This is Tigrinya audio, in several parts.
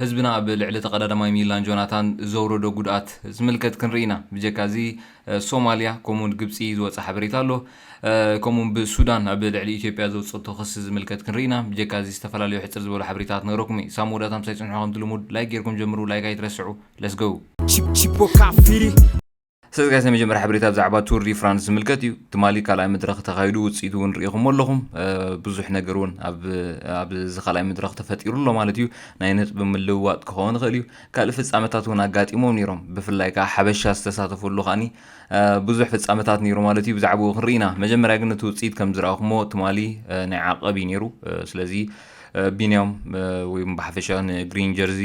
ህዝብና ኣብ ልዕሊ ተቐዳዳማይ ሚላን ጆናታን ዘውረዶ ጉድኣት ዝምልከት ክንርኢ ኢና። ብጀካ እዚ ሶማልያ ከምኡ ውን ግብጺ ዝወጸ ሓበሬታ ኣሎ። ከምኡ ውን ብሱዳን ኣብ ልዕሊ ኢትዮጵያ ዘውጸቶ ክሲ ዝምልከት ክንርኢ ኢና። ብጀካ እዚ ዝተፈላለዩ ሕጽር ዝበሉ ሓበሬታታት ክነግረኩም እየ። ክሳብ መወዳእታ ምሳይ ጽንሑ ከምቲ ልሙድ ላይክ ጌርኩም ጀምሩ ላይክ ኣይትረስዑ። Let's go! Chip Chip Boca Firi. ሰዚ ጋይስ ናይ መጀመርያ ሓበሬታ ብዛዕባ ቱር ዲ ፍራንስ ዝምልከት እዩ ትማሊ ካልኣይ መድረኽ ተኻይዱ ውፅኢቱ እውን ርኢኹም ኣለኹም ብዙሕ ነገር እውን ኣብዚ ካልኣይ መድረኽ ተፈጢሩ ኣሎ ማለት እዩ ናይ ነጥቢ ምልውዋጥ ክኸውን ይኽእል እዩ ካልእ ፍፃመታት እውን ኣጋጢሞም ነይሮም ብፍላይ ከዓ ሓበሻ ዝተሳተፈሉ ከዓኒ ብዙሕ ፍፃመታት ነይሩ ማለት እዩ ብዛዕባኡ ክንርኢ ኢና መጀመርያ ግን እቲ ውፅኢት ከም ዝረኣኹሞ ትማሊ ናይ ዓቐብ እዩ ነይሩ ስለዚ ቢንያም ወይ ብሓፈሻ ንግሪን ጀርዚ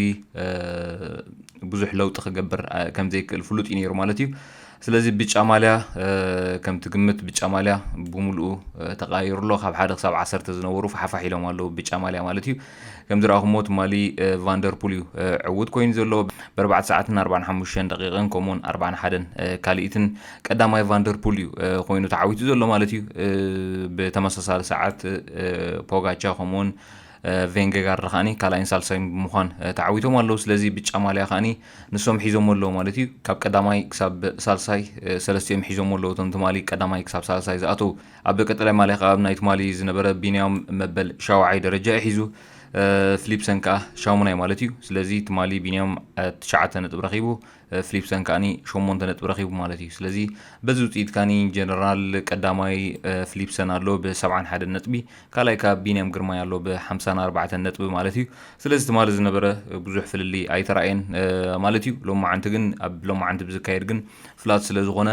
ብዙሕ ለውጢ ክገብር ከምዘይክእል ፍሉጥ እዩ ነይሩ ማለት እዩ ስለዚ ብጫ ማልያ ከምቲ ግምት ብጫ ማልያ ብምሉኡ ተቃይሩ ኣሎ ካብ ሓደ ክሳብ ዓሰርተ ዝነበሩ ፋሓፋሕ ኢሎም ኣለዉ ብጫ ማልያ ማለት እዩ ከምዚ ረኣኹሞ ትማሊ ቫንደርፑል እዩ ዕውት ኮይኑ ዘሎ ብኣርባዕተ ሰዓትን ኣርባን ሓሙሽተን ደቂቕን ከምኡውን ኣርባን ሓደን ካልኢትን ቀዳማይ ቫንደርፑል እዩ ኮይኑ ተዓዊቱ ዘሎ ማለት እዩ ብተመሳሳሊ ሰዓት ፖጋቻ ከምኡውን ቬንገጋርድ ከዓኒ ካልኣይን ሳልሳይን ብምዃን ተዓዊቶም ኣለዉ ስለዚ ብጫ ማልያ ከዓኒ ንሶም ሒዞሞ ኣለዉ ማለት እዩ ካብ ቀዳማይ ክሳብ ሳልሳይ ሰለስቲኦም ሒዞሞ ኣለዉ እቶም ትማሊ ቀዳማይ ክሳብ ሳልሳይ ዝኣተዉ ኣብ ቀጠላይ ማልያ ከዓ ናይ ትማሊ ዝነበረ ቢንያም መበል ሻውዓይ ደረጃ እዩ ሒዙ ፍሊፕሰን ከዓ ሻሙናይ ማለት እዩ ስለዚ ትማሊ ቢንያም ትሽዓተ ነጥብ ረኪቡ ፍሊፕሰን ከኣኒ ሸሞንተ ነጥቢ ረኺቡ ማለት እዩ። ስለዚ በዚ ውጽኢት ካኒ ጀነራል ቀዳማይ ፍሊፕሰን ኣሎ ብሰብዓን ሓደን ነጥቢ፣ ካልኣይ ከኣ ቢንያም ግርማይ ኣሎ ብሓምሳን ኣርባዕተን ነጥቢ ማለት እዩ። ስለዚ ትማሊ ዝነበረ ብዙሕ ፍልልይ ኣይተራእየን ማለት እዩ። ሎማዓንቲ ግን ኣብ ሎማዓንቲ ብዝካየድ ግን ፍላት ስለዝኾነ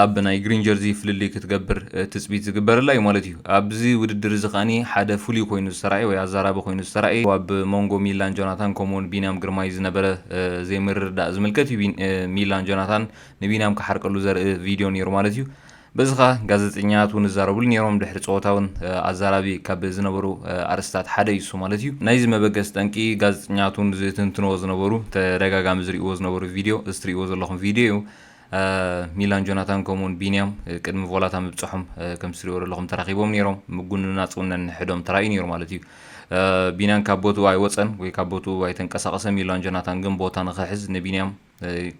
ኣብ ናይ ግሪን ጀርዚ ፍልልይ ክትገብር ትጽቢት ዝግበረላ እዩ ማለት እዩ። ኣብዚ ውድድር እዚ ከኣ ሓደ ፍሉይ ኮይኑ ዝተራእየ ወይ ኣዛራቢ ኮይኑ ዝተራእየ ኣብ ሞንጎ ሚላን ጆናታን ከምኡ'ውን ቢንያም ግርማይ ዝነበረ ዘይምርድዳእ ዝምልከት እዩ። ሚላን ጆናታን ንቢንያም ክሓርቀሉ ዘርኢ ቪድዮ ነይሩ ማለት እዩ። በዚ ከኣ ጋዘጠኛታት እውን ይዛረብሉ ነይሮም ድሕሪ ጸወታ እውን ኣዛራቢ ካብ ዝነበሩ ኣርእስትታት ሓደ እዩ እሱ ማለት እዩ። ናይዚ መበገሲ ጠንቂ ጋዘጠኛታት እውን ዝትንትንዎ ዝነበሩ ተደጋጋሚ ዝርእይዎ ዝነበሩ ቪድዮ እዚ ትርእይዎ ዘለኹም ቪድዮ እዩ። ሚላን ጆናታን ከምኡውን ቢንያም ቅድሚ ቮላታ ምብጽሖም ከምቲ ትሪእዎ ዘለኹም ተራኺቦም ነይሮም ምጉንን ናጽውን ነንሕዶም ተራእዩ ነይሩ ማለት እዩ ቢንያም ካብ ቦትኡ ኣይወፀን ወይ ካብ ቦትኡ ኣይተንቀሳቐሰ ሚላን ጆናታን ግን ቦታ ንክሕዝ ንቢንያም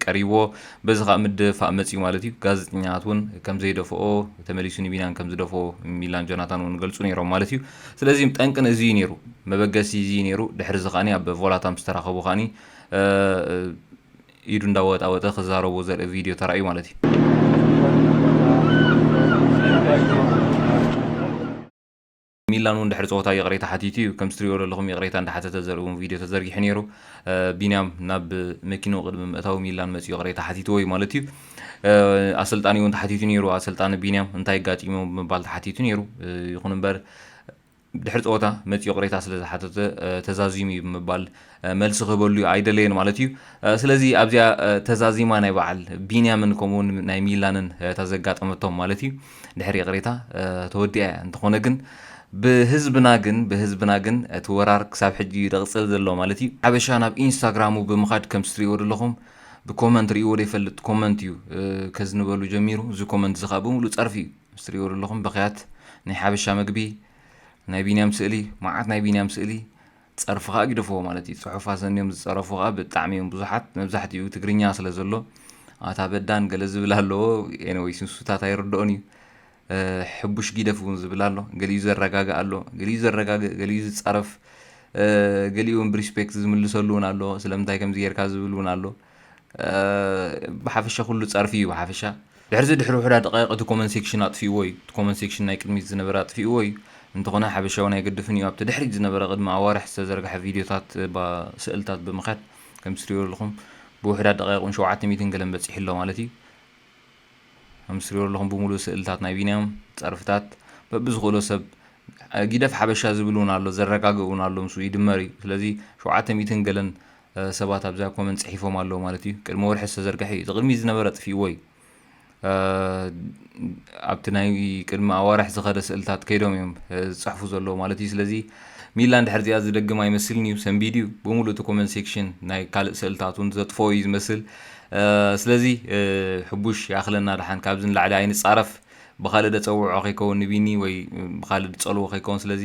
ቀሪብዎ በዚ ከዓ ምድፋእ መፅዩ ማለት እዩ ጋዜጠኛታት እውን ከም ዘይደፍኦ ተመሊሱ ንቢንያም ከም ዝደፍኦ ሚላን ጆናታን እውን ገልፁ ነይሮም ማለት እዩ ስለዚ ጠንቅን እዚ እዩ ነይሩ መበገሲ እዚ እዩ ነይሩ ድሕሪ እዚ ከዓኒ ኣብ ቮላታ ምስ ተራኸቡ ከዓኒ ኢዱ እንዳወጣወጠ ክዛረቦ ዘርኢ ቪድዮ ተራእዩ ማለት እዩ። ሚላን እውን ድሕሪ ፀወታ ይቕሬታ ሓቲቱ እዩ። ከምቲ ትሪኦ ዘለኹም ይቕሬታ እንዳሓተተ ዘርኢ እውን ቪድዮ ተዘርጊሑ ነይሩ። ቢንያም ናብ መኪንኡ ቅድሚ ምእታው ሚላን መፂኡ ይቕሬታ ሓቲትዎ እዩ ማለት እዩ። ኣሰልጣኒ እውን ተሓቲቱ ነይሩ። ኣሰልጣኒ ቢንያም እንታይ ኣጋጢሞም ብምባል ተሓቲቱ ነይሩ። ይኹን እምበር ድሕሪ ፀወታ መፂኡ ቅሬታ ስለዝሓተተ ተዛዚሙ እዩ ብምባል መልሲ ክህበሉ ኣይደለየን ማለት እዩ። ስለዚ ኣብዚኣ ተዛዚማ ናይ በዓል ቢንያምን ከምኡውን ናይ ሚላንን እታ ዘጋጠመቶም ማለት እዩ ድሕሪ ይቅሬታ ተወዲኣ እያ። እንተኾነ ግን ብህዝብና ግን ብህዝብና ግን እቲ ወራር ክሳብ ሕጂ እዩ ዝቕፅል ዘሎ ማለት እዩ። ሓበሻ ናብ ኢንስታግራሙ ብምኻድ ከምቲ ትሪእዎ ዘለኹም ብኮመንት ሪእዎ ዘይፈልጥ ኮመንት እዩ ከዝንበሉ ጀሚሩ። እዚ ኮመንት እዚ ከዓ ብምሉእ ፀርፊ እዩ። ምስ ትሪእዎ ዘለኹም በኽያት ናይ ሓበሻ መግቢ ናይ ቢንያም ስእሊ መዓት ናይ ቢንያም ስእሊ ጸርፊ ከዓ ግደፍዎ ማለት እዩ ጽሑፍ ኣሰንዮም ዝጸረፉ ከዓ ብጣዕሚ እዮም ብዙሓት መብዛሕትኡ ትግርኛ ስለ ዘሎ ኣታ በዳን ገለ ዝብል ኣለዎ ኤነወይ ስንሱታት ኣይርድኦን እዩ ሕቡሽ ጊደፍ እውን ዝብል ኣሎ ገሊኡ ዘረጋግእ ኣሎ ገሊኡ ዘረጋግእ ገሊኡ ዝፀረፍ ገሊኡ እውን ብሪስፔክት ዝምልሰሉ እውን ኣሎ ስለምንታይ ከምዚ ጌርካ ዝብል እውን ኣሎ ብሓፈሻ ኩሉ ጸርፊ እዩ ብሓፈሻ ድሕርዚ ድሕሪ ውሕዳ ደቃይቅ እቲ ኮመን ሴክሽን ኣጥፊእዎ እዩ እቲ ኮመን ሴክሽን ናይ ቅድሚት ዝነበረ ኣጥፊእዎ እዩ እንተኾነ ሓበሻውን ኣይገድፍን እዩ ኣብቲ ድሕሪት ዝነበረ ቅድሚ ኣዋርሕ ዝተዘርግሐ ቪድዮታት ባ ስእልታት ብምኽያድ ከምቲ ትሪእዎ ኣለኹም ብውሕዳ ደቃይቁን ሸውዓተ ሚእትን ገለን በጺሑ ኣሎ ማለት እዩ ከምቲ ትሪእዎ ኣለኹም ብምሉእ ስእልታት ናይ ቢንያም ጸርፍታት በብዝኽእሎ ሰብ ጊደፍ ሓበሻ ዝብል እውን ኣሎ ዘረጋግእ እውን ኣሎ ምስ ይድመር እዩ ስለዚ ሸውዓተ ሚእትን ገለን ሰባት ኣብዛ ኮመንት ጽሒፎም ኣለዉ ማለት እዩ ቅድሚ ወርሒ ዝተዘርግሐ እዩ እዚ ቅድሚ ዝነበረ ኣጥፍእዎ እዩ ኣብቲ ናይ ቅድሚ ኣዋርሕ ዝኸደ ስእልታት ከይዶም እዮም ዝፅሕፉ ዘለዎ ማለት እዩ ስለዚ ሚላ እንድሕር እዚኣ ዝደግም ኣይመስልን እዩ ሰንቢድ እዩ ብምሉእ እቲ ኮመንት ሴክሽን ናይ ካልእ ስእልታት እውን ዘጥፎ እዩ ዝመስል ስለዚ ሕቡሽ ይኣኽለና ድሓን ካብዚ ንላዕሊ ኣይንፃረፍ ብካልእ ደፀውዖ ከይከውን ንቢኒ ወይ ብካልእ ድፀልዎ ከይከውን ስለዚ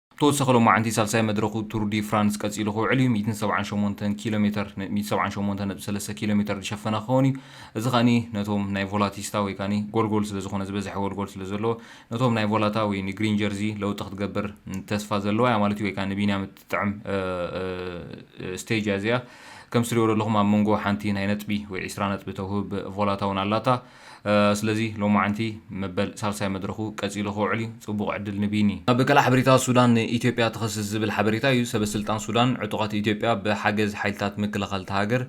ብተወሳኺ ሎማዕንቲ ሳልሳይ መድረኹ ቱር ዲ ፍራንስ ቀፂሉ ክውዕል እዩ። ሚእትን ሰብዓን ሸሞንተን ኪሎ ሜተር፣ ሚእቲ ሰብዓን ሸሞንተን ነጥቢ ሰለስተ ኪሎ ሜተር፣ ዝሸፈነ ክኸውን እዩ። እዚ ከኣ ነቶም ናይ ቮላቲስታ ወይ ከኣ ጎልጎል ስለዝኾነ ዝበዝሐ ጎልጎል ስለዘለዎ ነቶም ናይ ቮላታ ወይ ንግሪን ጀርዚ ለውጢ ክትገብር ተስፋ ዘለዋ እያ ማለት እዩ ወይ ከኣ ንቢንያም እትጥዕም ስቴጅ እያ እዚኣ። ከም እትሪእዎ ዘለኹም ኣብ መንጎ ሓንቲ ናይ ነጥቢ ወይ ዕስራ ነጥቢ ተውህብ ቮላታ እውን ኣላታ። ስለዚ ሎማዕንቲ መበል ሳልሳይ መድረኹ ቀጺሉ ክውዕል እዩ፣ ጽቡቕ ዕድል ንቢኒ። ኣብ ካልእ ሓበሬታ ሱዳን ንኢትዮጵያ ትኸስስ ዝብል ሓበሬታ እዩ። ሰበስልጣን ሱዳን ዕጡቓት ኢትዮጵያ ብሓገዝ ሓይልታት ምክልኻል እታ ሃገር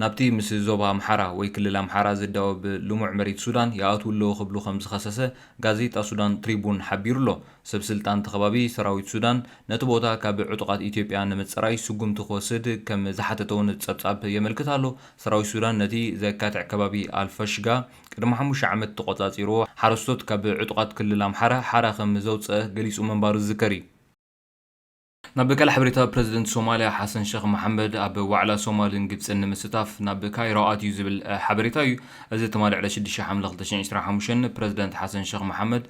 ናብቲ ምስ ዞባ ኣምሓራ ወይ ክልል ኣምሓራ ዝዳወብ ልሙዕ መሬት ሱዳን ይኣትዉ ኣለዉ ክብሉ ከምዝኸሰሰ ጋዜጣ ሱዳን ትሪቡን ሓቢሩ ኣሎ። ሰብስልጣን እቲ ከባቢ ሰራዊት ሱዳን ነቲ ቦታ ካብ ዕጡቓት ኢትዮጵያ ንምጽራይ ስጉምቲ ክወስድ ከምዝሓተተ'ውን ጸብጻብ የመልክት ኣሎ። ሰራዊት ሱዳን ነቲ ዘካትዕ ከባቢ ኣልፋሽጋ ቅድሚ ሓሙሽተ ዓመት ተቖጻጺርዎ ሓረስቶት ካብ ዕጡቓት ክልል ኣምሓራ ሓራ ከም ዘውጽኣ ገሊጹ ምንባሩ ዝዝከር እዩ። ናብ ካልእ ሓበሬታ ፕረዚደንት ሶማልያ ሓሰን ሸኽ መሓመድ ኣብ ዋዕላ ሶማልን ግብጽን ንምስታፍ ናብ ካይሮ ኣትዩ ዝብል ሓበሬታ እዩ። እዚ ትማሊ ዕለት ሽዱሽተ ሓምለ ክልተ ሽሕን ዕስራን ሓሙሽተን ፕረዚደንት ሓሰን ሸኽ መሓመድ፣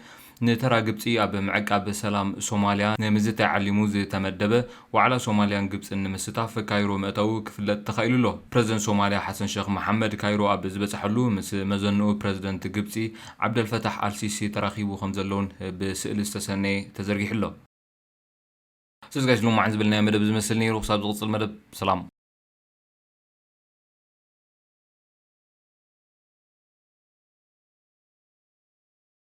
ንተራ ግብጺ ኣብ ምዕቃብ ሰላም ሶማልያ ንምዝታይ ዓሊሙ ዝተመደበ ዋዕላ ሶማልያን ግብጽን ንምስታፍ ካይሮ ምእታዉ ክፍለጥ ተኻኢሉ ኣሎ። ፕረዚደንት ሶማልያ ሓሰን ሸኽ መሓመድ ካይሮ ኣብ ዝበጽሐሉ ምስ መዘንኡ ፕረዚደንት ግብጺ ዓብደልፈታሕ ኣልሲሲ ተራኺቡ ከምዘሎ'ውን ብስእሊ ዝተሰነየ ተዘርጊሑ ኣሎ። ስለዚ ጋይስ ሎማዕን ዝበልናዮ መደብ ዝመስል ነይሩ ክሳብ ዝቕጽል መደብ ሰላም።